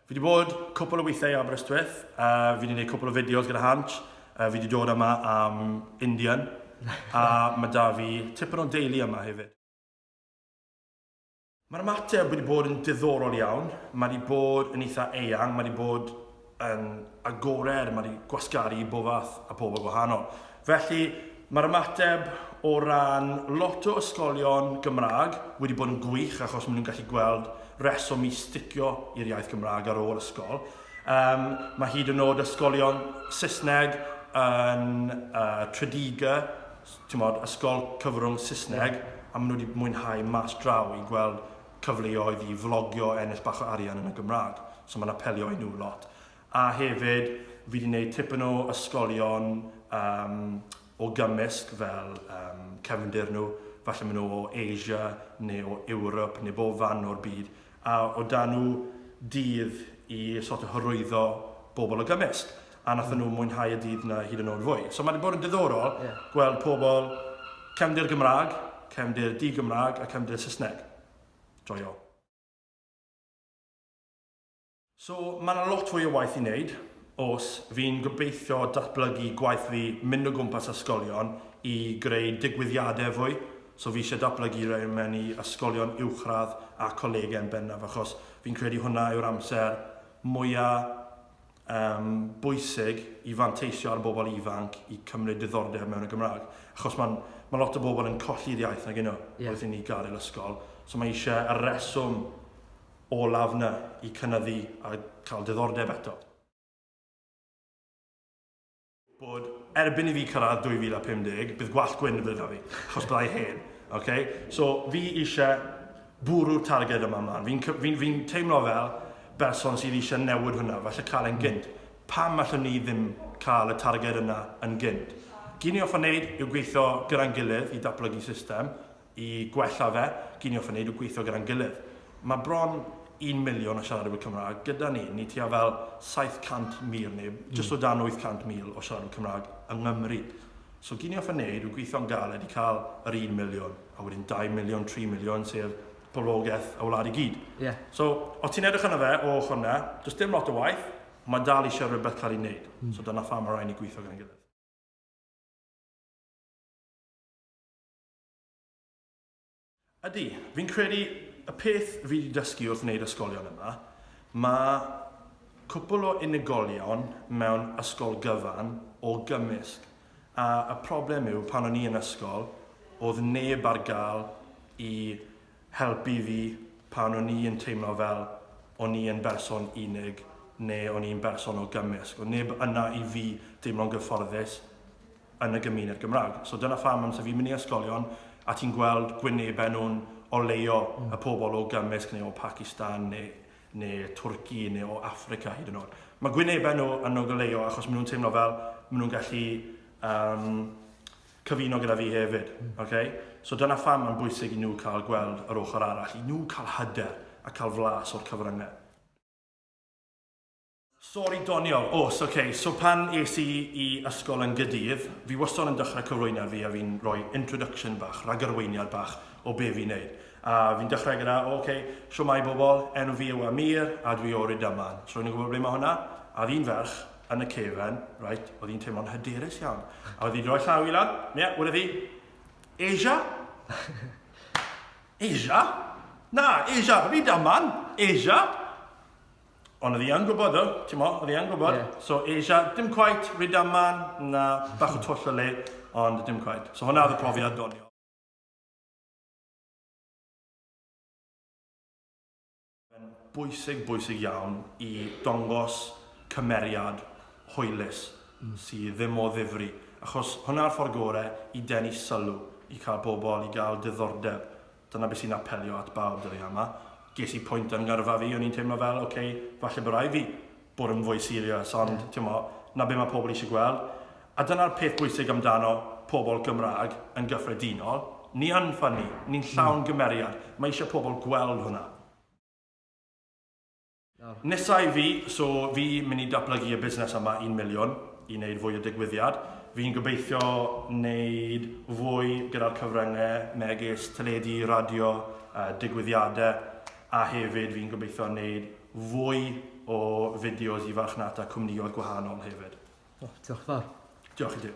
Fi wedi bod cwpl o weithiau i Aberystwyth, a fi wedi gwneud cwpl o fideos gyda Hansh, a fi wedi dod yma am Indian, a mae da fi tipyn o deulu yma hefyd. Mae'r ymateb wedi bod yn diddorol iawn, mae wedi bod yn eitha eang, mae wedi bod yn agored, mae 'di gwasgaru i bob fath a pobl gwahanol. Felly, mae'r ymateb o ran lot o ysgolion Gymraeg wedi bod yn gwych achos maen nhw'n gallu gweld reswm i sticio i'r iaith Gymraeg ar ôl ysgol. Um, mae hyd yn oed ysgolion Saesneg yn uh, Tredegar, ti'n modd, ysgol cyfrwng Saesneg, yeah. a maen nhw wedi mwynhau mas draw i gweld cyfleoedd i flogio, ennill bach o arian yn y Gymraeg. So mae'n apelio i nhw lot. A hefyd, fi wedi gwneud tipyn o ysgolion um, o gymysg fel um, cefndir nhw, falle maen nhw o Asia neu o Ewrop neu bob fan o'r byd, a o dan nhw dydd i sort of hyrwyddo bobl o gymysg. a wnaethon nhw mwynhau y dydd 'na hyd yn oed fwy. So mae wedi bod yn diddorol yeah. gweld pobl cefndir Gymraeg, cefndir di-Gymraeg a cefndir Saesneg. Joio. So mae yna lot fwy o waith i wneud, os fi'n gobeithio datblygu gwaith fi mynd o gwmpas ysgolion i greu digwyddiadau fwy, so fi eisiau datblygu rei mewn i ysgolion uwchradd a colegau yn bennaf, achos fi'n credu hwnna yw'r amser mwyaf um, bwysig i fanteisio ar bobl ifanc i cymryd diddordeb mewn y Gymraeg. Achos mae ma lot o bobl yn colli'r iaith nag yno yeah. wrth i ni gael yr ysgol. So mae eisiau y reswm olaf yna i cynyddu a cael diddordeb eto. bod erbyn i fi cyrraedd 2050, bydd gwallt gwyn yn fydda da fi, achos byddai hen. Okay? So, fi eisiau bwrw'r targed yma mlaen. Fi'n fi, fi teimlo fel berson sydd eisiau newid hwnna, falle cael e'n gynt. Pam allwn ni ddim cael y targed yna yn gynt? Gyn ni offa wneud yw gweithio gyda'n gilydd i datblygu system, I gwella fe, giniwch fe, wneud o gweithio gyda'n gilydd. Mae bron un miliwn o siaradwyr Cymraeg gyda ni. Ni tua fel 700,000 neu jyst o dan 800,000 o siaradwyr Cymraeg yng Nghymru. So giniwch fe wneud yw gweithio'n galed i cael yr un miliwn, a wedyn 2 miliwn, 3 miliwn, sef poblogaeth y wlad i gyd. Yeah. So, os ti'n edrych yna fe o ochr yna, does dim lot o waith, mae dal eisiau rhywbeth cael ei wneud. Mm. So dyna pham mae rhaid ni gweithio gyda'n gilydd. Ydy, fi'n credu y peth fi wedi dysgu wrth wneud ysgolion yma, mae cwpl o unigolion mewn ysgol gyfan o gymysg, a y problem yw pan o'n i yn ysgol oedd neb ar gael i helpu fi pan o'n i yn teimlo fel o'n i yn berson unig neu o'n i'n berson o gymysg, oedd neb yna i fi deimlo'n gyfforddus yn y gymuned Gymraeg. So dyna pham amser fi'n mynd i ysgolion a ti'n gweld gwynebau nhw'n oleio mm. y pobl o gymysg neu o Pakistan neu, neu Twrci neu o Africa hyd yn oed. Mae gwynebau nhw yn o oleio achos maen nhw'n teimlo fel maen nhw'n gallu um, cyfuno gyda fi hefyd. Mm. Okay? So dyna pham mae'n bwysig i nhw cael gweld yr ochr arall, i nhw cael hyder a cael flas o'r cyfryngau. Sori doniol, oes, ok, so pan es i i ysgol yn Gydydd, fi wastod yn dechrau cyflwyniad fi a fi'n rhoi introduction bach, rhagarweiniad bach o be fi'n neud. A fi'n dechrau gyda, o ok, shwmae bobl, enw fi yw Amir a dwi o Rydaman. So rwy'n yn gwybod ble mae hwnna? A oedd un ferch yn y cefen, reit, oedd hi'n teimlo'n hyderus iawn. A oedd hi'n rhoi llaw i lan, ie, yeah, wrth i, Asia? Asia? Na, Asia, Rydaman, Asia? Ond oedd hi yn gwybod o, ti'n mo, oedd hi yn gwybod. Yeah. So Asia, dim quite, rydam man, na bach o twll o le, ond dim quite. So hwnna oedd y profiad doniol. Bwysig, bwysig iawn i dongos cymeriad hwylus mm. sydd ddim o ddifri. Achos hwnna'r ffordd gorau i denu sylw, i cael pobl, i gael diddordeb Dyna beth sy'n apelio at bawb dyddiau yma. Ges i pwynt yn ngyrfa fi, o'n i'n teimlo fel, ok, falle bod rhaid fi bod yn fwy serious, ond ti'mo, 'na be mae pobl eisiau gweld. A dyna'r peth bwysig amdano pobl Gymraeg yn gyffredinol, ni yn ffynnu, ni'n llawn gymeriad, mae eisiau pobl gweld hwnna. Nesa i fi, so fi mynd i datblygu y busnes yma un miliwn, i wneud fwy o digwyddiad. Fi'n gobeithio wneud fwy gyda'r cyfryngau megis teledu, radio, digwyddiadau, a hefyd fi'n gobeithio wneud fwy o fideos i farchnata cwmnioedd gwahanol hefyd. O, diolch yn fawr. Diolch i ti.